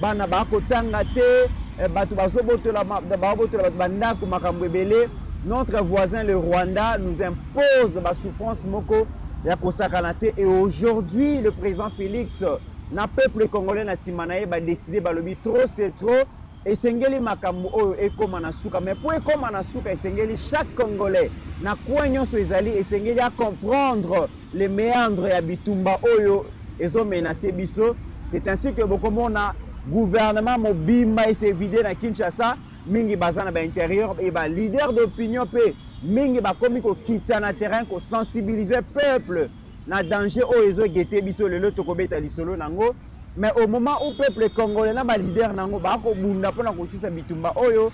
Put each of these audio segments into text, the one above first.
bana bakotanga te eh, bato bazobotola babotola bato bandako makambo ebele notre voisin le rwanda nous impose basouffrance moko ya kosakana te et aujourd'hui le président félix na peuple congolais na nsima na ye badeside balobi trop c'est trop esengeli makambo oyo ekóma na suka mais mpo ekóma na suka esengeli chaque congolais na coin nyonso ezali esengeli acomprendre les meandres ya bitumba oyo ezo menacer biso c'est ainsi que bokomona gouvernement mobimba ese vide na Kinshasa mingi baza na ba intérieur et ba leader d'opinion pe mingi bakomi kokita na terrain kosensibiliser peuple na danger oyo ezo gete biso lelo tokobeta lisolo nango mais au moment où peuple congolais na ba leader nango bakobunda mpona kosisa bitumba oyo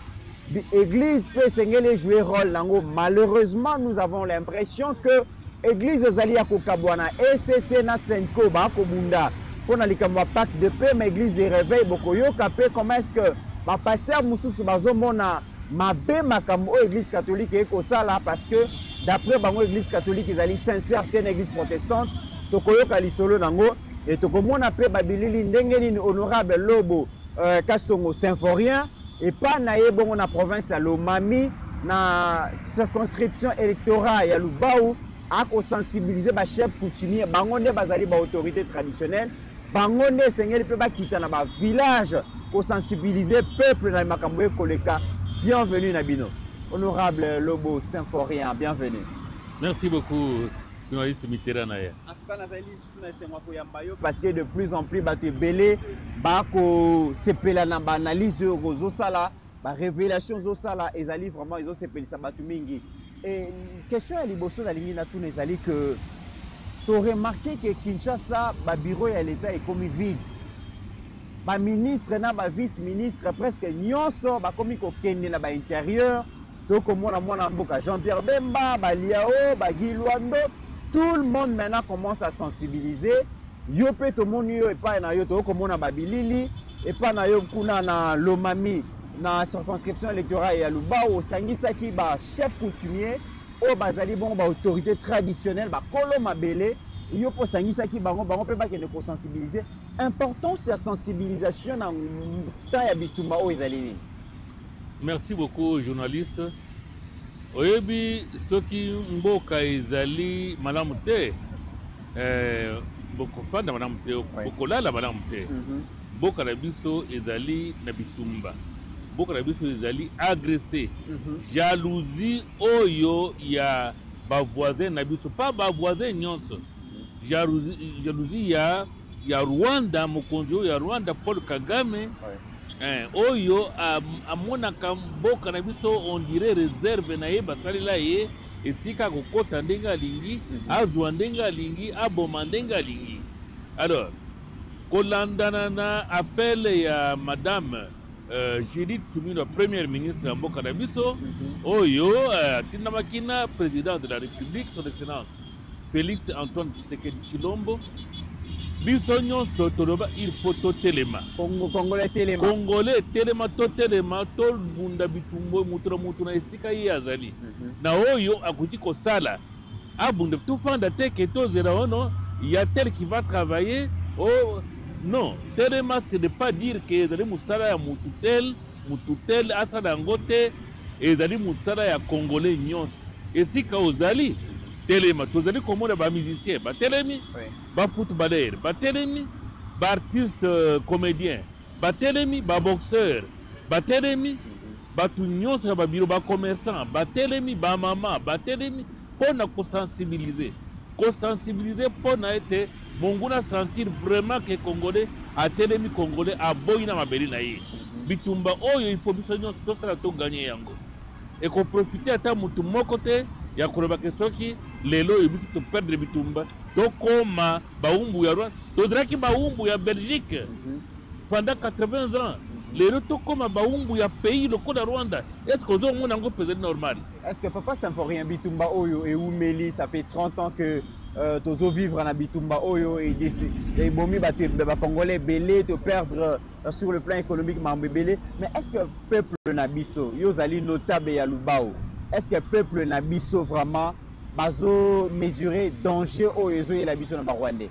église pe esengeli ejouer rôle nango malheureusement nous avons l'impression que Eglise ezali ya kokabwana ECC na Senko ba kobunda mpo na likambo ya pacte de paix ma eglise de réveil bokoyoka mpe comment est-ce que ba pasteur mosusu bazomona mabe makambo oyo eglise catholique ekosala parce que d'après bango eglise catholique ezali sincère te na eglise protestante tokoyoka lisolo nango e tokomona mpe babilili ndenge nini honorable lobo Euh, Kasongo Symphorien epa na ye bongo na province ya Lomami na circonscription électorale ya Lubau akosensibilize bachef coutumier bango nde bazali baautorité traditionnelle bango nde esengeli mpe bakita na bavillage kosensibilize peuple na makambo ekoleka bienvenue na bino honorable lobo symphorien bienvenue merci beaucoup journaliste mitera na ye lisusu na esengo ya koyamba yo parce que de plus en plus bato ebele bakosepela na baanalyse oyo ozosala barévélation ozosala ezali vraiment ezosepelisa bato mingi e question ya liboso nalingi natuna ezali que toremarke ke kinshasa babiro ya leta ekomi vide baministre na bavice ministre presque nyonso bakomi kokende na bainterieur tokomona mwana mboka jean pierre bemba baliao oh, bagilwando tout le monde maintenant commence à sensibiliser yo mpe tomoni yo epai na yo tokomona babilili epai na yo kuna na lomami na circonscription électorale ya lubau osangisaki bachef coutumier oyo bazali bongo baautorité traditionnelle bakolo mabele yo mpo osangisaki bango bango mpe bakende kosensibilize importance ya sensibilisation na temps ya bitumba oyo ezali nini Merci beaucoup journaliste. Oyebi soki mboka ezali malamu te eh, bokofanda malamu te bokolala malamu te mhm. mboka na biso ezali na bitumba mboka na biso ezali agresse mhm. jalousie oyo ya bavoisin na biso mpa bavoisin nyonso jalousie ya, ya rwanda mokonzi oyo ya rwanda paul kagame Eh, oyo amonaka mboka na biso on dirait reserve na ye basalela ye esika akokɔta ndenge alingi mhm. azwa ndenge alingi aboma ndenge alingi alors kolandana na appel ya madame euh, judith sumino première ministre ya mboka na biso mhm. oyo euh, atindamaki na président de la république son excellence Felix Antoine Tshisekedi Tshilombo biso nyonso toloba il faut totelema Congo, congolais telema congolais telema totelema tobunda bitumbo moto na moto na esika ye azali mm -hmm. na oyo akoki kosala abunda tofanda te ke tozela ono ya tel qui va travailler o oh, non telema ce n'est pas dire ke ezali mosala ya motu tel motu tel asala yango te Ezali mosala ya Congolais nyonso. Esika ozali, telema. Tozali komona ba musiciens batelemi, ba footballeurs batelemi, ba artistes euh, comediens batelemi, ba boxeurs batelemi, bato nyonso ya babiro, ba commerçants batelemi, ba mama batelemi mpo na kosensibiliser kosensibiliser mpo na ete Monguna sentir vraiment que congolais atelemi congolais aboyi na mabele na ye bitumba oyo il faut biso nyonso tosala to gagner yango ekoprofite ata motu moko te ya kolobaka soki lelo oyo biso toperdre bitumba tokoma baumbu ya rwanda tozalaki baumbu ya belgique mhm. pendant 80 ans lelo tokoma baumbu ya pays lokola rwanda estce ozomona yango mpezali normal estce papa symphorien bitumba oyo eumeli ça fait 30 ans que Euh, tozo vivre na bitumba oyo ebomi bato bacongolais ebele to perdre euh, sur le plan économique makambo ebele mais est ce que peuple na biso yo ozali notable ya lubao est ce que peuple na biso vraiment bazo mesurer danger oyo ezoyela biso na barwandais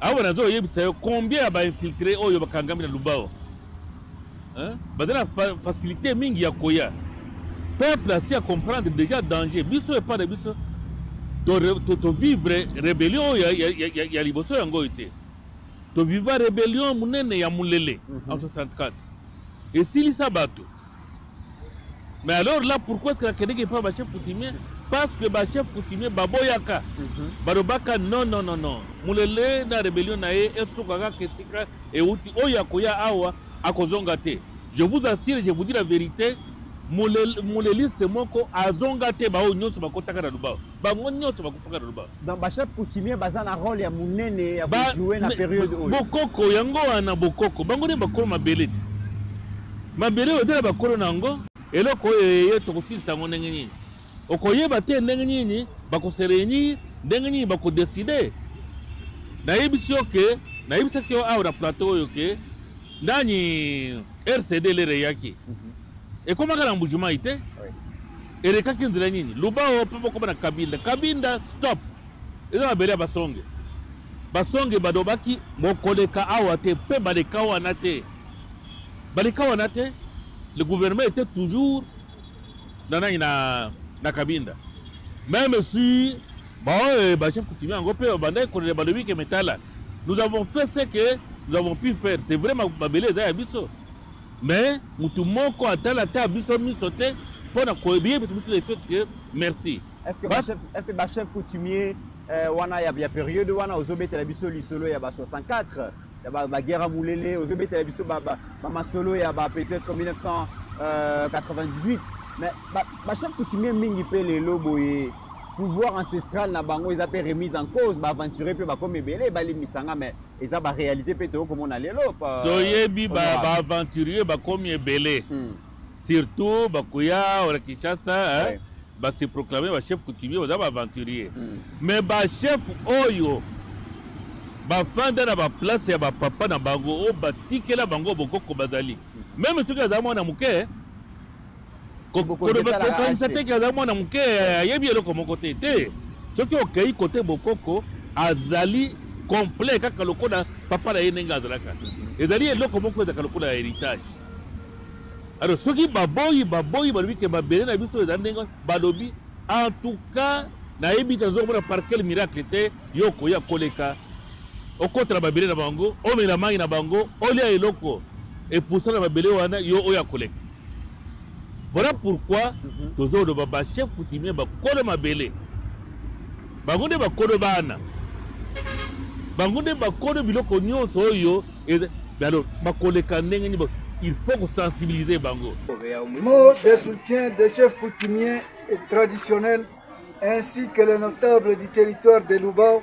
awa nazo oyebisa yo combien ya ba infiltre oyo bakangami na lubao baza na facilité mingi ya koya peuple asi ya comprendre déjà danger biso epai na biso tovivre rébellion oyo ya liboso yango oyo te toviva rébellion monene ya molele mhm. en 64 esilisa bato Mais alors là, pourquoi est-ce que la Québec pas ma chef coutumier Parce que ma chef coutumier, Baboyaka, mm -hmm. Barobaka, non, non, non, non. Moulele, na rébellion, na ye, esukaka, kesika, et outi, oya, koya, awa, akozonga te. Je vous assure, je vous dis la vérité, Mouleliste moko, azonga te, bao, nyonso, bakotaka na lubao. bango nyonso bakufaka na loba donc bachef coutumier baza na role ya monene ya kojoue na periode oyo bokoko yango wana bokoko bango nde bakolo mabele te mabele oyo tala bakolo na yango eloko oyo eye tokosilisa yango ndenge nini okoyeba te ndenge nini bakoserenir ndenge nini bakodeside nayebisi yo ke nayebisaki yo awa na plateau oyo ke nani rcd lere eyaki mhm. ekomaka na mbujumai te Elekaki nzela nini? Luba o pe bokoma na Kabinda. Kabinda stop. Eza mabele ya basonge. Basonge balobaki bokoleka awa te pe baleka wana te. Baleka wana te. Le gouvernement était toujours na nani na na Kabinda. Même si bon euh, ba chef coutumier yango pe bandaki kolela balobi ke metala. Nous avons fait ce que nous avons pu faire. C'est vrai mabele eza ya biso. Mais mutu moko atala ta biso miso te pona koyebiye biso biso le fait que merci. Est-ce que ba chef est-ce que ba chef coutumier euh, wana ya ya période wana ozobetela biso lisolo ya ba 64 ya ba, ba guerre mulele ozobetela biso ba, ba, ba masolo ya ba peut-être 1998 mais ba, ba chef coutumier mingi pe lelo boye pouvoir ancestral na bango eza pe remise en cause ba aventurier pe ba comme ebele balimbisa nga mais eza ba réalité pe toyo komona lelo toyebi ba aventurier bakomi ebele hmm. surtout bakoya ora kinshasa ouais. ba se proclamer ba chef coutumier baza ba aventurier hmm. mais ba chef oyo bafanda na baplace ya bapapa na bango oyo batikela bango bokoko bazali meme soki aza mwana moke kokanisa te ke azali mwana moke ayebi eloko moko te te soki okei kote bokoko azali complet kaka lokola papa na ye ndenge azalaka ezali eloko moko ezalaka lokola heritage alors soki baboyi baboyi balobi ke mabele na biso ezali ndenge balobi en tout cas nayebi te nazokomona par quel miracle te yo okoya koleka okotela mabele na bango omela mai na bango olia eloko epusa na mabele wana yo oyo akoleka Voilà pourquoi mm -hmm. tozoloba ba chef coutumier bakolo mabele bango nde bakolo bana bango nde bakolo biloko nyonso oyo alors bakoleka ndenge nini il faut kosensibiliser bango mot de soutien des chefs coutumiers et traditionnels ainsi que les notables du territoire de lubao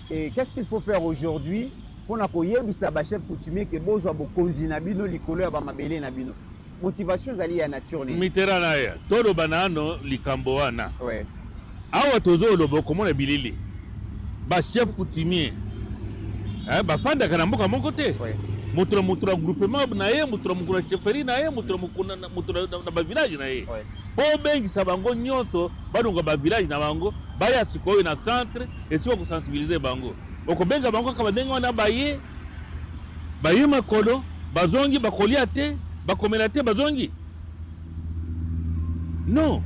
Et qu'est-ce qu'il faut faire aujourd'hui pour na koyebisa ba chef coutumier que bozwa bokonzi na bino likolo ya ba mabele na bino motivation ezali ya nature nini mitera na ya toloba nano likambo wana ouais. awa tozoloba okomona bilili ba chef coutumier eh, bafandaka na mboka moko te ouais. moto na moto na groupement na ye moto na mokolo na chefferie na ye moto na mokolo na bavillage na ye ouais. Mpo obengisa bango nyonso balongwa ba village na bango baya sikoyo na centre esika oko sensibiliser bango. Okobenga bango kaka ndenge wana baye, baye makolo bazongi bakolia te, bakomela te bazongi? Non,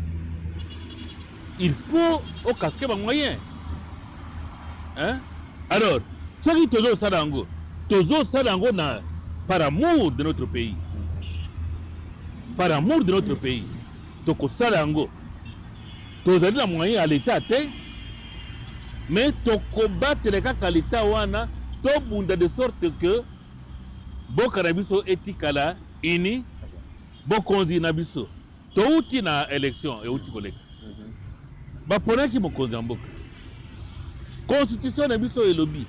il faut o casquer ba moyens. hein alors soki tozosala yango tozosala yango na par amour de notre pays par amour de notre pays tokosala yango tozali na moyen ya leta te mais tokobatele kaka leta wana tobunda de sorte que boka na biso etikala ini bokonzi na biso Towuti na election ewuti koleka. Baponaki mokonzi ya mboka. Constitution na biso elobi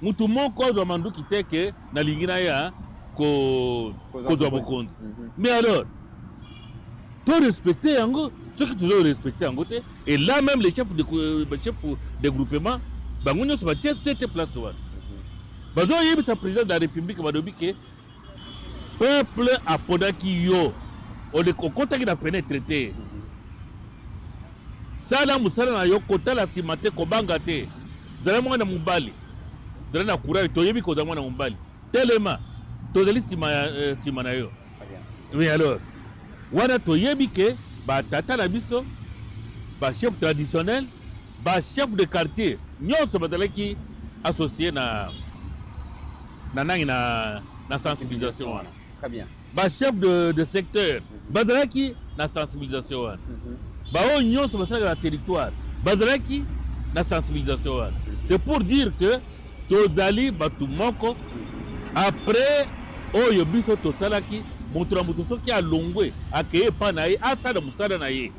mutu moko azwa manduki te ke nalingi naya kozwa mokonzi. Mhm. Mais alors to respecter yango soki tozo respecter yango te et là même les chefs de euh, chef de groupement bango nyonso batie sete place wana mhm. bazoyebisa président de la république balobi ke Peuple aponaki yo okotaki na fenetre te sala mosala na yo kotala nsima te kobanga te zala mwana mobali zala na courage toyebi kozala mwana mobali telema tozali nsima ya eh, nsima na yo mais alors wana toyebi ke batata na biso bachef traditionnel bachef de quartier nyonso bazalaki associe na na nangi na na sensibilisation wana très bien ba chef de, de secteur mhm. bazalaki na sensibilisation wana mhm. baoyo nyonso basalaka na territoire bazalaki na sensibilisation wana mhm. c'est pour dire que tozali bato moko après oyo biso tosalaki moto na moto soki alongwe akei epai na ye asala mosala na ye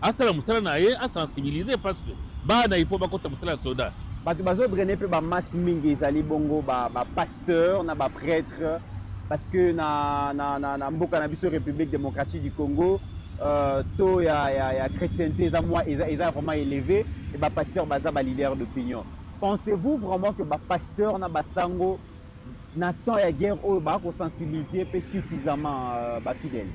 asala musala na ye asensibiliser parce que bana il faut bakota musala ya soda bato bazodraine mpe bamasse mingi ezali bongo bapasteur ba na baprêtre parce que na, na, na, na mboka na biso république démocratique du congo euh, taux ya, ya, ya chrétienté eza, mwa, eza, eza vraiment élevé e bapasteur baza baleader d'opinion pensez-vous vraiment que bapasteur na basango na temps ya guerre oyo bakosensibiliser mpe suffisamment euh, bafidèle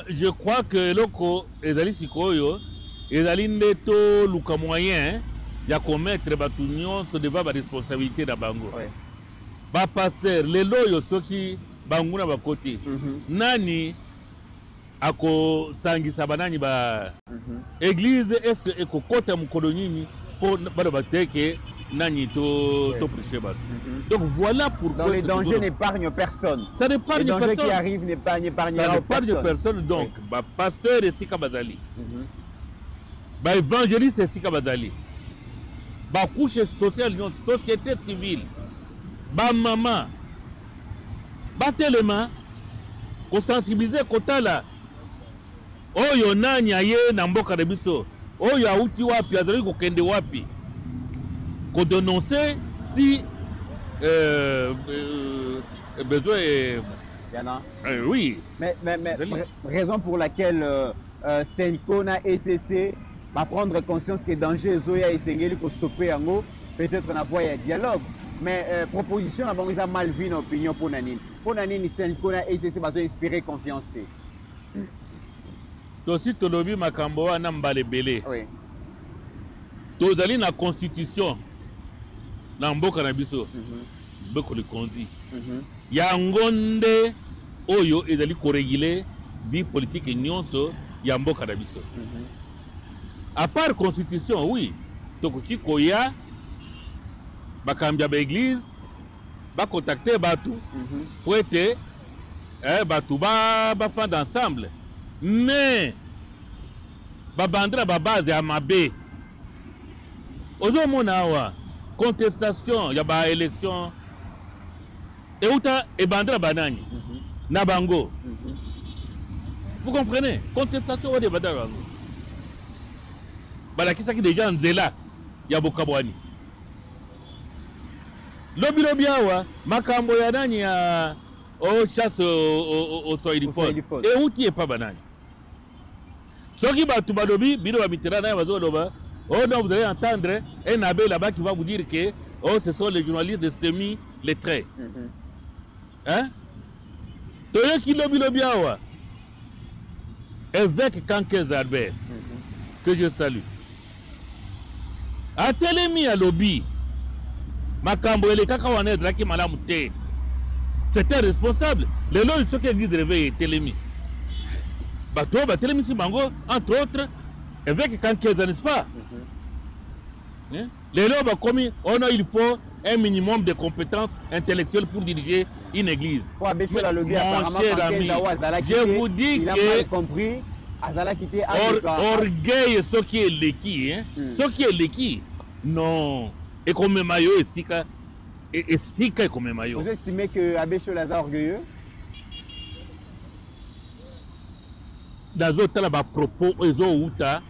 Je crois que eloko ezali sikoyo ezali nde toluka moyen ya komettre bato nyonso devant baresponsabilité na bango oui. bapasteur lelo oyo soki banguna bakoti mm -hmm. nani akosangisa banani ba Eglise est ce que ekokota mokolo nini mpo baloba te ke nani to ouais. to prêcher bato mhm. donc voilà pourquoi donc le danger n'épargne personne ça n'épargne personne le danger qui arrive n'épargne personne ça n'épargne personne donc oui. ba pasteur esika bazali mm -hmm. ba évangéliste esika bazali ba couche sociale non société civile ba mama batelema kosensibiliser kotala Oyo nani aye na mboka na biso? Oyo awuti wapi? Azalaki kokende wapi? Ko denoncer si euh, euh, besoin euh, Yana. Euh, oui. Mais, mais, mais raison pour laquelle euh, euh, Senko na ECC va prendre conscience que danger Zoya et Sengeli ko stopper yango peut-être na voie ya dialogue. Mais euh, proposition na bango eza mal vu na opinion pour nanine. Pour nanine Senko na ECC bazo inspirer confiance te. tosi tolobi makambo wana mbala ebele oui. tozali na constitution na mboka na biso mm -hmm. mboka likonzi mm -hmm. yango nde oyo ezali koregule vie politike nyonso ya mboka na biso mm -hmm. apart constitution oui tokoki koya bakambi ya baeglize ba contacter batu mhm. pour ete eh, batu ba bafanda ensemble mais babandi na babase ya mabe ozomona awa contestation ya baélection euta ebandi na banani mhm. na bango mhm. vous comprenez contestation wana ebandi na bango balakisaki deja nzela ya bokabwani Lobi lobi awa makambo ya nani ya o chasse au swahiliphone euti epa banani? Soki bato balobi bino ba mitera naye bazoloba oh non vous allez entendre un abbé là-bas qui va vous dire que oh ce sont les journalistes de semi lettrés. Mm -hmm. Hein? Toyoki lobi lobi awa. Évêque Kankez Albert, que je salue. Atelemi alobi makambo elekaka wana ezalaki malamu te. C'était responsable. Lelo oyo soki église de réveil etelemi. Bato oyo batelemisi bango entre autres évêque Kankeza, n'est-ce pas? Mm -hmm. yeah? Lelo bakomi ono il faut un minimum de competence intellectuelle pour diriger une église. Mon cher ami, je vous dis que azalaki te orgueil soki eleki hein? hmm. soki eleki non ekomema yo esika e, esika ekomema yo vous estimez que abbé Chola aza orgueilleux nazotala bapropos oyo ezowuta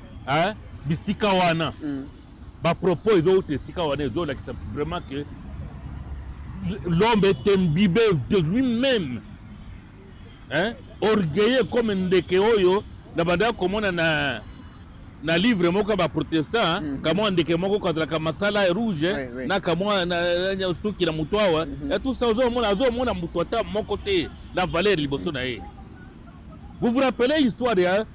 bisika wana mm. Ba propos ezo uta esika wana ezo lakisa vraiment que l'homme est imbibé de lui-même. Hein? Orgueilleux comme ndeke oyo na banda komona na na livre moko ba protestant hein? mm -hmm. kamwa ndeke moko kazalaka masala ya rouge oui, oui. na kamwa na, na suki na moto awa mm -hmm. tout ça ozomona azomona moto ata moko te na valeur liboso na ye vous vous rappelez histoire ya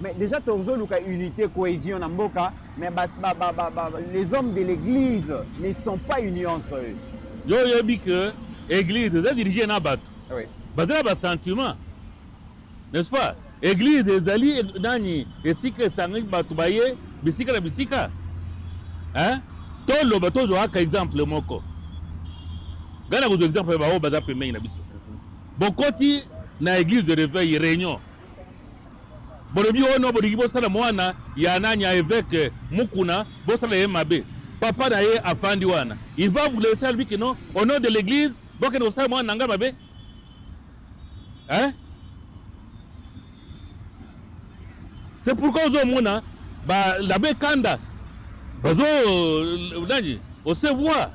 Mais déjà tozo luka unité cohésion na mboka mais ba, ba, ba, ba, ba, les hommes de l'église ne sont pas unis entre eux. Yo yebi que église eza dirige na bato. Ah oui. Bazala ba sentiment. N'est-ce pas? Église ezali nani esika esangaki bato baye bisika na bisika. Hein? Toloba tozwaka exemple moko. Ngai nakozwa exemple ya baoyo baza pembeni na biso. Bokoti na église de réveil réunion bolobi ono bolingi bosala mwana ya nani ya eveke mukuna bosala ye mabe papa na ye afandi wana il va vous laisser lui que non au nom de l'église bokende kosala mwana na ngai mabe hein c'est pourquoi ozomona labe kanda bazo euh, nani osevoir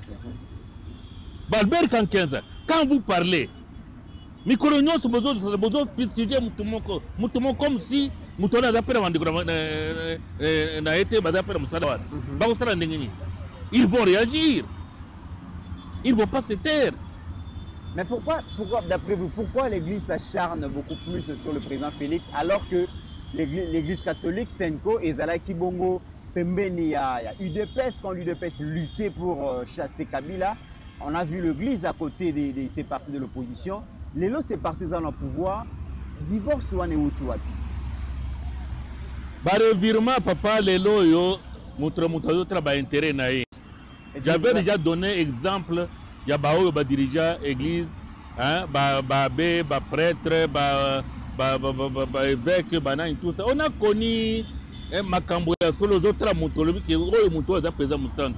balbert kankenza quand vous parlez mikolo nyonso bozosala bozo fustige motu moko motu moko comme si motu wana aza mpe na bandeko na ye te baza mpe na mosala wana mhm. bakosala ndenge nini ils vont réagir ils vont pas se taire Mais pourquoi, pourquoi d'après vous, pourquoi l'Église s'acharne beaucoup plus sur le président Félix alors que l'Église catholique, Senko et Zala Kibongo, Pembeni, il y a, il y a UDPS, quand l'UDPS luttait pour euh, chasser Kabila, On a vu l'église à côté de, de ces partis de l'opposition. Les lots, ces partis dans le pouvoir. Divorce ou anewuti wapi? Ba revirement papa lelo yo mutre mutu azotala ba intérêt na ye. J'avais déjà donné exemple ya ba oyo ba dirigea église hein, ba ba abbé, ba prêtre, ba ba ba ba, ba, ba évêque, ba nani tout ça. On a connu eh, makambo ya solo ozotala mutu olobi ke oyo mutu aza peza musantu.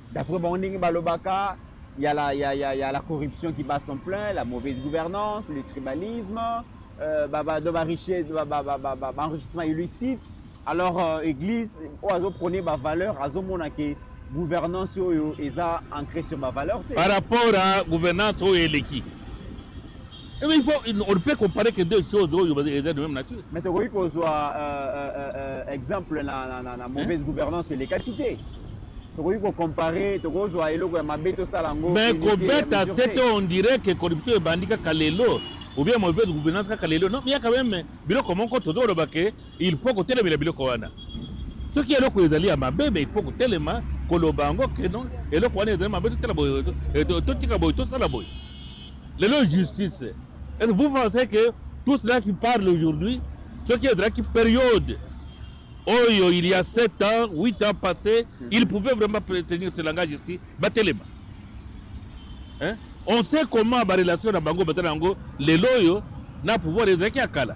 D'après bango ndenge balobaka il y a la, il y a, il y a, il y a la corruption qui bat son plein, la mauvaise gouvernance, le tribalisme, euh, bah, bah, bah, richesse, bah, bah, bah, bah, bah, enrichissement illicite. Alors euh, église oyo azoprône bavaleur azomona ke gouvernance oyo eza ancré sur bavaleur te par rapport à gouvernance oyo eleki Eh il faut, on ne peut comparer que deux choses oyo oh, eza de même nature. Mais tokoki kozwa euh, euh, euh, euh, exemple na, na, na, na mauvaise hein? gouvernance elekaki te tokoki kocompare tokozwa eloko ya mabe tosala yango mais kobeta sete on dirait que corruption ebandi kaka lelo oubien mauvaise gouvernance kaka lelo non ya quand même biloko moko tozoloba ke il faut kotelemela biloko wana soki eloko ezali ya mabe mais il faut kotelema koloba yango ke non eloko wana ezali mabe totala boye totika boye tosala boye lelo justice est vous pensez que tout cela qui parle aujourd'hui soki ezalaki période oyo il y a 7 ans 8 ans passé mm. il pouvait vraiment tenir ce langage ici batelema hein? on sait comment barelation na bango baza na yango lelo oyo na pouvoir ezalaki ya kala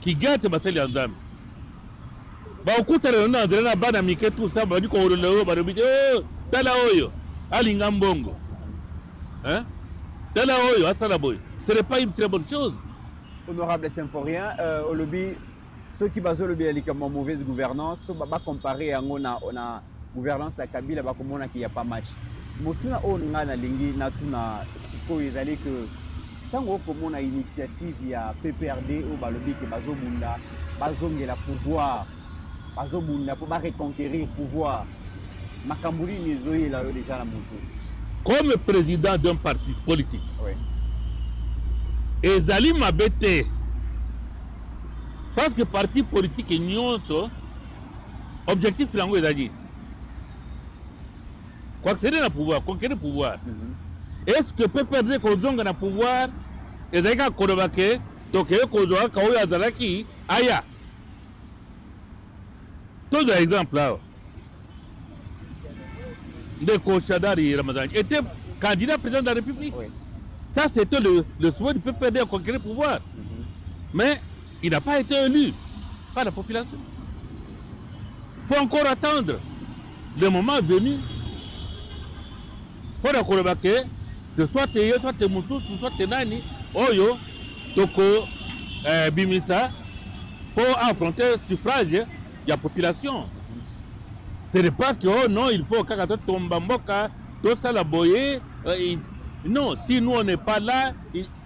kigate basali ya nzambe bakokutana lelo na nzela na bana mike tout ça babandi koolola oyo balobi te oh, tala oyo alinga mbongo hein? tala oyo asala boye ce n'est pas une très bonne chose honorable symphorien euh, olobi soki bazolobela likambo ya mauvaise gouvernance bacompare yango na, na gouvernance ya kabila bakomona ke ya pa match motuna oyo ngai nalingi natuna sikoyo ezali ke ntango okomona initiative ya pprd oyo balobi ke bazobunda bazongela pouvoir bazobunda mpo bareconquerir pouvoir makambo nini ezoyela yo deja na motu comme président d'un parti politique oui. ezali mabe te parce que parti politique nyonso objectif na yango eza nini koaccéder na pouvoir conquérir pouvoir mhm. est ce que pprd kozonga na pouvoir ezali kaka koloba ke tokeye kozwa kaka oyo azalaki aya tozwa exemple awa ndeko shadari ramazani était candidat président de la république oui. ça c'était le, le souhait du pprd à conquérir pouvoir mm -hmm. mais Il n'a pas été élu par la population. Il faut encore attendre le moment venu mpo na koloba ke ce soit te ye soit te mosusu soit te nani oyo toko eh, bimisa mpo affronter suffrage ya population ce n'est pas que oh non il faut kaka totomba mboka tosala boye euh, non si nous on n'est pas là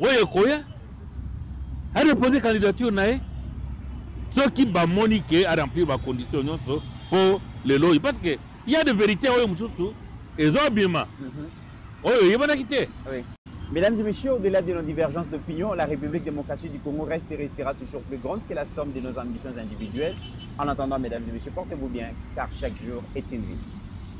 oyo ekoya arepoze candidature na ye soki bamoni ke aremplir bacondition nyonso mpo lelo oyo parce que ya de verité oyo mosusu ezobima mhm. oyo oyebanaki te Mesdames et messieurs, au-delà de nos divergences d'opinion, la République démocratique du Congo reste et restera toujours plus grande que la somme de nos ambitions individuelles. En attendant, mesdames et messieurs, portez-vous bien, car chaque jour est une vie.